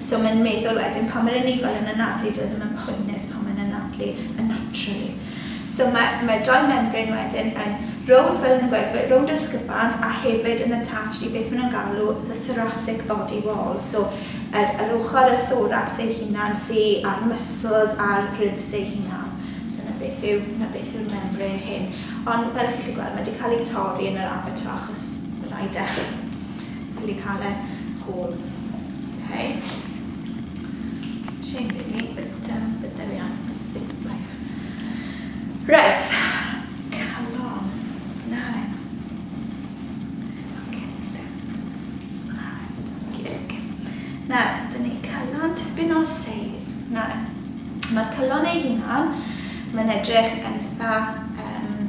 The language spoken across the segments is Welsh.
So mae'n meddwl wedyn pan mae'r anifail yn anadlu dyw e ddim yn poenus pan mae'n anadlu yn naturally. So mae mae dau membrane wedyn yn rownd fel yn y gwerfwyr, rownd yr ysgyfant a hefyd yn attached i beth maen nhw'n galw the thoracic body wall, so yr yr ochr y thoracs ei hunan sy a'r muscles a'r ribs eu hunan. So 'na beth yw 'na beth yw'r membrane hyn. Ond fel chi'n gallu gweld mae 'di cael ei torri yn yr abatua achos rhaid e ffili cael e whole. Okay. Chain really, but um, but there we are. It's, it's life. Right. Calon. Nine. Okay. Okay, okay. Na, dyn ni calon tipyn o seis. Na, mae'r calon ei hunan, mae'n edrych yn eitha um,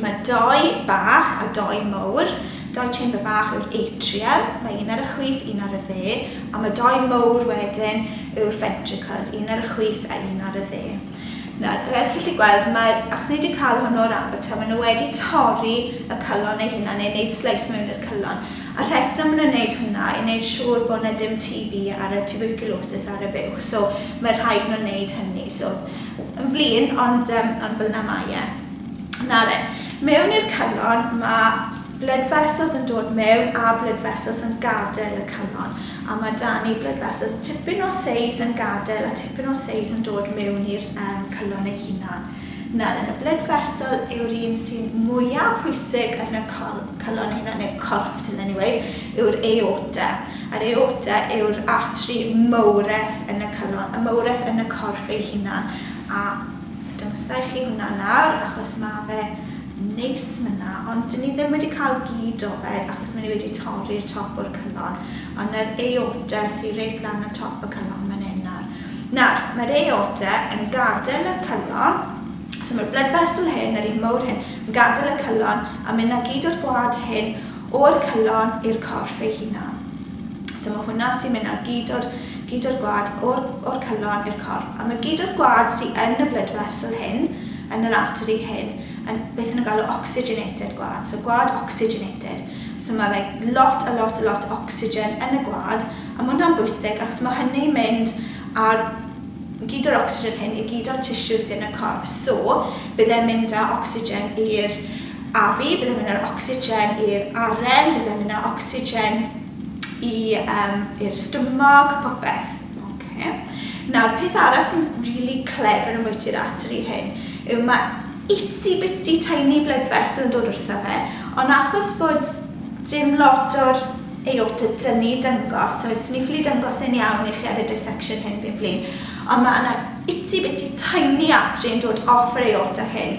Mae doi bach a doi mowr. Doi chamber bach yw'r atrium, mae un ar y chwith, un ar y dde, a mae doi mowr wedyn yw'r ventricles, un ar y chwith a un ar y dde. Nawr, fel chi'n gallu gweld, mae, achos ni wedi cael hwn o'r abato, maen nhw wedi torri y cylon eu hunan neu wneud sleis mewn i'r cylon. A'r rheswm maen nhw'n wneud hwnna yw wneud siŵr bod yna dim TB ar y tuberculosis ar y fuwch, so mae rhaid nhw wneud hynny. So, yn flin, ond yym ond fel yna mae e. Na de. Mewn i'r Cynon ma' blood vessels yn dod mewn a blood vessels yn gadael y Cynon a ma' 'da ni blood vessels tipyn o seis yn gadael a tipyn o seis yn dod mewn i'r um, Cynon ei hunan. Nawr yn y blood vessel yw'r un sy'n mwya' pwysig yn y col- Cynon ei hunan neu corff dylen ni weud yw'r aorta. Yr aorta yw'r artery mowredd yn y Cynon, y mowredd yn y corff ei hunan a Dawnsai chi hwnna lawr achos ma fe neis myna ond ni ddim wedi cael gyd o fe achos mae ni wedi torri'r top o'r cynon ond na'r aorta sy reit lan ar top y cynon man hyn nawr. Nawr mae'r aorta yn gadael y cynon so mae'r blood vessel hyn yr un mowr hyn yn gadael y cynon a mynd â gyd o'r gwad hyn O'r calon i'r corff ei hunan. So ma' hwnna sy'n mynd ar gyd o'r gyd o'r gwad o'r o'r calon i'r corff. A ma' gyd o'r gwad sy yn y blood vessel hyn, yn yr artery hyn, yn beth o'n nhw'n galw oxygenated gwad. So gwad oxygenated. So ma' fe lot a lot a lot o ocsigen yn y gwad, a ma' hwnna'n bwysig achos ma' hynny'n mynd ar gyd o'r ocsigen hyn i gyd o'r tissue sy yn y corff. So bydd e'n mynd â ocsigen i'r afu, byddai'n mynd â'r ocsigen i'r aren, byddai'n mynd â'r ocsigen i, um, i'r stumog, popeth. Okay. Nawr, peth arall sy'n really clever yn bwyty'r artery hyn yw mae itsy bitsy tiny blood vessel yn dod wrtho fe, ond achos bod dim lot o'r aorta dynnu dyngos, so os ni'n ffili dyngos yn iawn i chi ar y dissection hyn fi'n flin, ond mae yna itsy bitsy tiny artery yn dod off yr aorta hyn,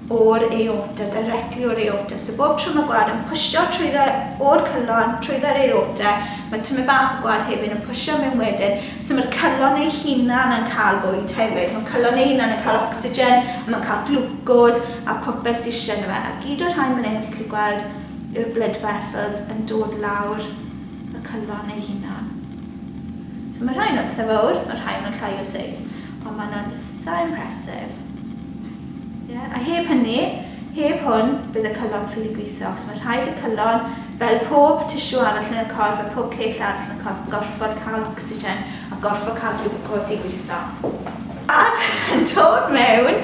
o'r aorta, directly o'r aorta. So bob tro mae gwad yn pwysio trwyddo o'r cyllon, trwyddo'r aorta, mae tymed bach o gwad hefyd yn pwysio mewn wedyn. So mae'r cyllon ei hunan yn cael bwyd hefyd. Mae cyllon ei hunan yn cael ocsigen, a mae'n cael glwcos a popeth sydd eisiau yno fe. A gyd o'r rhain fan hyn, chi'n gallu gweld yw'r blood vessels yn dod lawr y cyllon ei hunan. So mae rhain yn pethau fawr, mae rhain yn llai o seis. Ond mae yna'n itha impressive. Ie, a heb hynny, heb hwn, bydd y cylon ffili gwitho, achos mae rhaid y cylon, fel pob tissue arall yn y corff a pob cell arall yn y corff, yn gorfod cael ocsigen a gorfod cael glucose i gwitho. A yn dod mewn,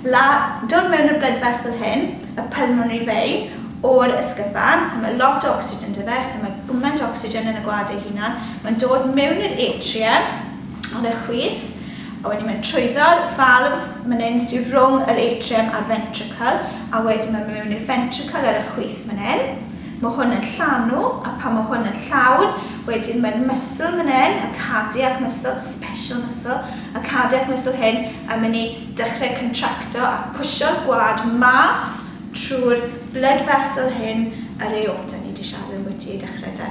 la, dod mewn i'r blood vessel hyn, y pulmonary vein, o'r ysgyfan, so mae lot o ocsigen 'da fe, so mae gwment o ocsigen yn y gwad ei hunan, mae'n dod mewn i'r atrium, Ar y chwith, a wedyn mae'n trwyddo'r valves man 'yn sy rhwng yr atrium a'r ventricle, a wedyn mae mewn i'r ventricle ar y chwith man 'yn. Mae hwn yn llanw, a pan mae hwn yn llawn, wedyn mae'r muscle man 'yn, y cardiac muscle, special muscle, y cardiac muscle hyn yn mynd i dechrau contracto a pwsio'r gwad mas trwy'r blood vessel hyn, yr aorta ni 'di siarad ambwti i dechrau 'da.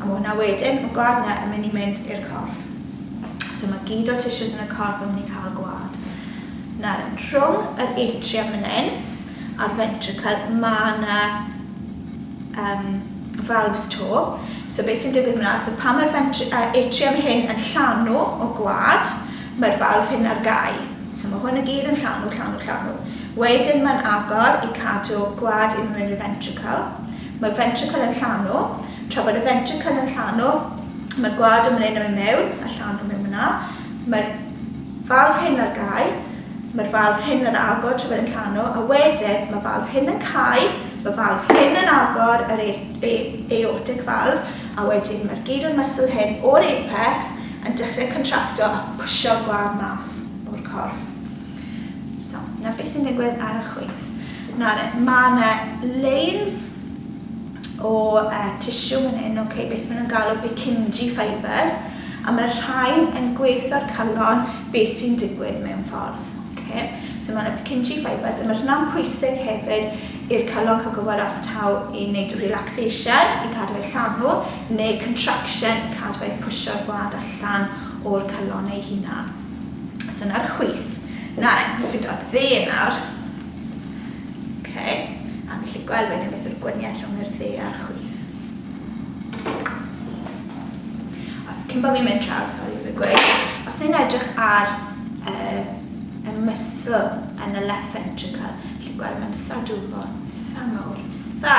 A ma' hwnna wedyn, ma' gwad yna yn mynd i mynd i'r corff. So ma' gyd o'r tissues yn y corff yn mynd i cael gwad. Nawr, rhwng yr atrium yn un a'r ventricle, ma' yna um, valves to. So beth sy'n digwydd yna, so pan mae'r uh, atrium hyn yn llanw o gwad, mae'r valve hyn ar gau. So mae hwn y gyd yn llanw, llanw, llanw. Wedyn mae'n agor i cadw gwad i mewn i'r ventricle. Mae'r ventricle yn llanw. Tra bod y ventricle yn llanw, mae'r gwad yn mleno i mewn a llanw mewn yna. Mae'r falf hyn ar gau. Mae'r falf hyn yn agor tra bod e'n llanw, a wedyn mae falf hyn yn cau, mae falf hyn yn agor yr e- e- aortic valve, a wedyn mae'r gyd o'r muscle hyn o'r apex yn dechrau contracto a pwsio'r gwad mas o'r corff. So, na beth sy'n digwydd ar y chwyth. Na, na, mae yna lanes o uh, tissue yn hyn, okay, beth maen nhw'n galw Purkinje fibres, a mae'r rhain yn gweithio'r calon beth sy'n digwydd mewn ffordd. Okay. So mae yna Purkinje fibres, a mae hynna'n pwysig hefyd i'r calon cael gwybod os taw i wneud relaxation i cadw ei llanw, neu contraction i cadw ei pwysio'r gwlad allan o'r calon ei hunan. So na'r chwith. Na, ni'n ffindo'r dde nawr. OK. A ni'n lli gweld wedyn beth yw'r gwaniaeth rhwng yr dde a'r chwith. Os cyn bod fi'n mynd draw, sori, fe gweud, os ni'n edrych ar uh, y mysl yn y left ventricle, lli gweld mae'n tha dwfo, tha mawr, tha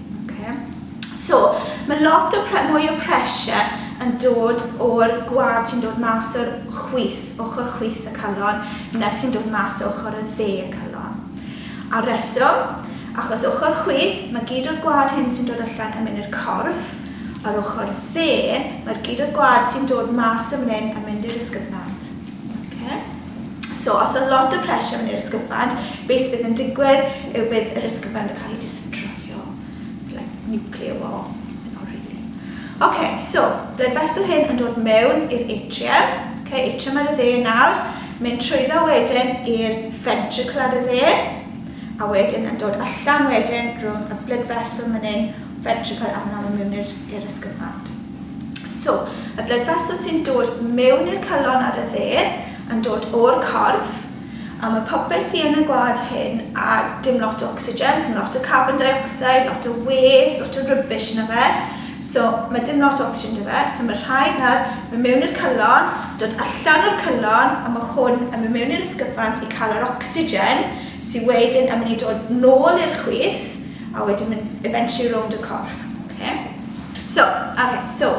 Okay. So, mae lot o pre mwy o pressure yn dod o'r gwad sy'n dod mas o'r chwyth, ochr chwyth y calon, na sy'n dod mas ochr y dde y calon. A reswm, achos ochr chwyth, mae gyd o'r gwad hyn sy'n dod allan yn mynd i'r corff, a'r ochr dde, mae'r gyd o'r gwad sy'n dod mas yn mynd yn mynd i'r ysgyfnant. Okay. So os oedd lot o pressure yn yr ysgyfan, beth sydd yn digwydd yw bydd yr ysgyfan yn cael ei distroio. Like nuclear war. Not really. Okay, so, blood vessel hyn yn dod mewn i'r atrium. Okay, atrium ar y dde nawr. Mynd trwyddo wedyn i'r ventricle ar y dde. A wedyn yn dod allan wedyn rhwng y blood vessel mynd hyn, ventricle a mynd mewn i'r ysgyfan. So, y blood vessels sy'n dod mewn i'r calon ar y dde yn dod o'r corff, a mae popeth sy'n yn y gwlad hyn a dim lot o ocsigen, so mae lot o carbon dioxide, lot o waste, lot o rubbish yna fe, so mae dim lot o ocsigen yna fe, so mae'r rhai nawr mae mewn i'r calon, dod allan o'r calon, a mae hwn yn mynd mewn i'r ysgyfant i cael yr ocsigen sy'n wedyn yn mynd i dod nôl i'r chwith, A wedyn mynd eventually rownd y corff. Oce? So, oce, so.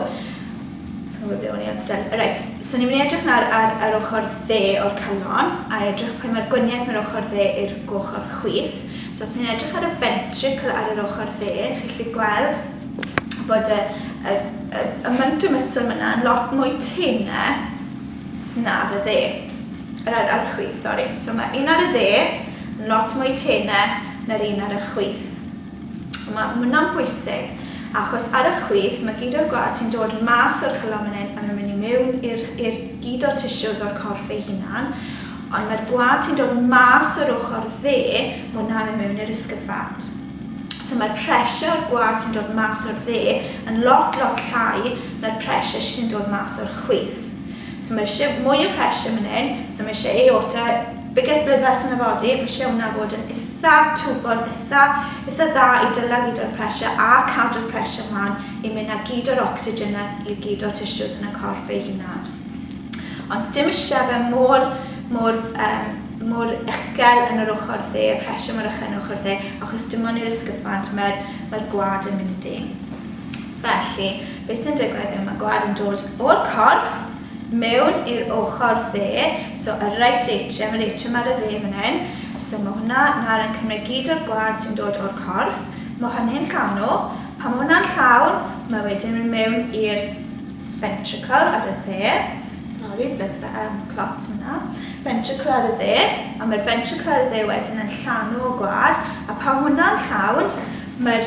Sa'n gwybod ble o'n i ond still. Reit, so ni'n mynd i edrych nawr ar yr ochr dde o'r calon a edrych pwy mae'r gwaniaeth mae'r ochr dde i'r ochr chwith. So os ti'n edrych ar y ventricle ar yr ochr dde, chi'n gallu gweld bod y, y, y, y myntomuscle myna yn lot mwy tynne na'r y dde. Yr ar ar y chwith, sori. So mae un ar y dde, lot mwy tene na'r un ar y chwith. Mae hwnna'n bwysig, achos ar y chwith mae gyd o'r gwad sy'n dod mas o'r calon fan hyn a mae'n mynd i mewn i'r i'r gyd o'r tissues o'r corff ei hunan, ond mae'r gwad sy'n dod mas o'r ochr dde, mae hwnna'n mynd mewn i'r ysgyfad. So mae'r pressure o'r gwad sy'n dod mas o'r dde yn lot, lot llai na'r pressure sy'n dod mas o'r chwith. So mae eisiau mwy o pressure man hyn, so mae eisiau aorta, biggest blood vessel yn y body, mae eisiau hwnna fod yn itha twbol, itha, itha dda i dyla gyd o'r pressure a cadw'r pressure man i mynd â gyd o'r oxygen na i gyd o'r tissues yn y corff ei hunan. Ond sdim eisiau fe mor, mor, um, mor uchel yn yr ochr dde, y pressure mor uchel yn yr ochr dde, achos dim ond i'r ysgyfant mae'r mae gwad yn mynd i. Felly, be sy'n digwydd yw mae gwad yn dod o'r corff mewn i'r ochr dde, so y right atrium, yr atrium ar y dde fan hyn, so mae hwnna nawr yn cymryd gyd o'r gwad sy'n dod o'r corff, mae hynny'n llanw, pan mae hwnna'n llawn, mae wedyn yn mynd mewn i'r ventricle ar y dde, sori, blood ve- yym clots ma' 'na, ventricle ar y dde, a mae'r ventricle ar y dde wedyn yn llanw y gwad, a pan hwnna'n llawn, mae'r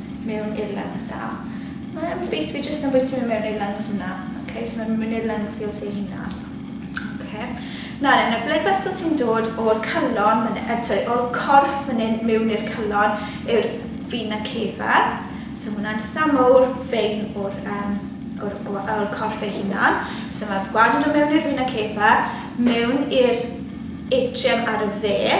mewn i'r lungs a mae e'n bwys fi jyst yn bwyty fe mewn i'r lungs yna. Ok, so mae'n mynd i'r lung fields ei hunan. Ok. Nawr, yn y blood vessel sy'n dod o'r calon, uh, eh, sorry, o'r corff fan hyn mewn i'r calon yw'r vena cava. So mae hwnna'n tha mowr fein o'r, um, o'r, or corff ei hunan. So mae gwad yn dod mewn i'r vena cava, mewn i'r atrium ar y dde,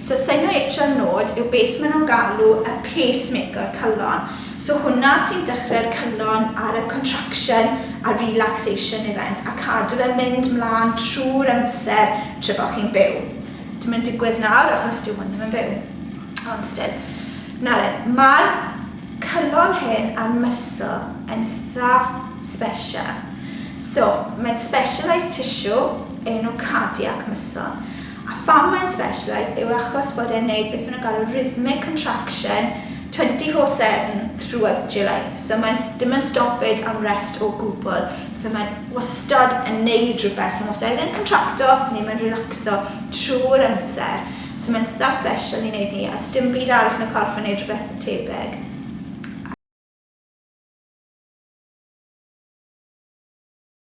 So senoetron nod yw beth ma nhw'n galw y pace maker calon, so hwnna sy'n dechrau'r calon ar y contraction a relaxation event a cadw fe'n mynd mlan trwy'r amser tra bo chi'n byw. Dim yn digwydd nawr achos dyw hwn ddim yn byw ond still. Nawr then, ma'r calon hyn a'r muscle yn itha special. So mae'n specialised tissue enw cardiac muscle. A pham mae'n specialised yw achos bod e'n neud beth ma' nhw'n galw rhythmic contraction twenty four seven throughout your life. So mae'n s- dim yn stoppage am rest o gwbl. So mae'n wastad yn neud rhywbeth. So mae'n wastad either yn contracto neu mae'n relacso trwy'r amser. So mae'n itha special i neud ni a does dim byd arall yn y corff yn neud rhywbeth tebyg.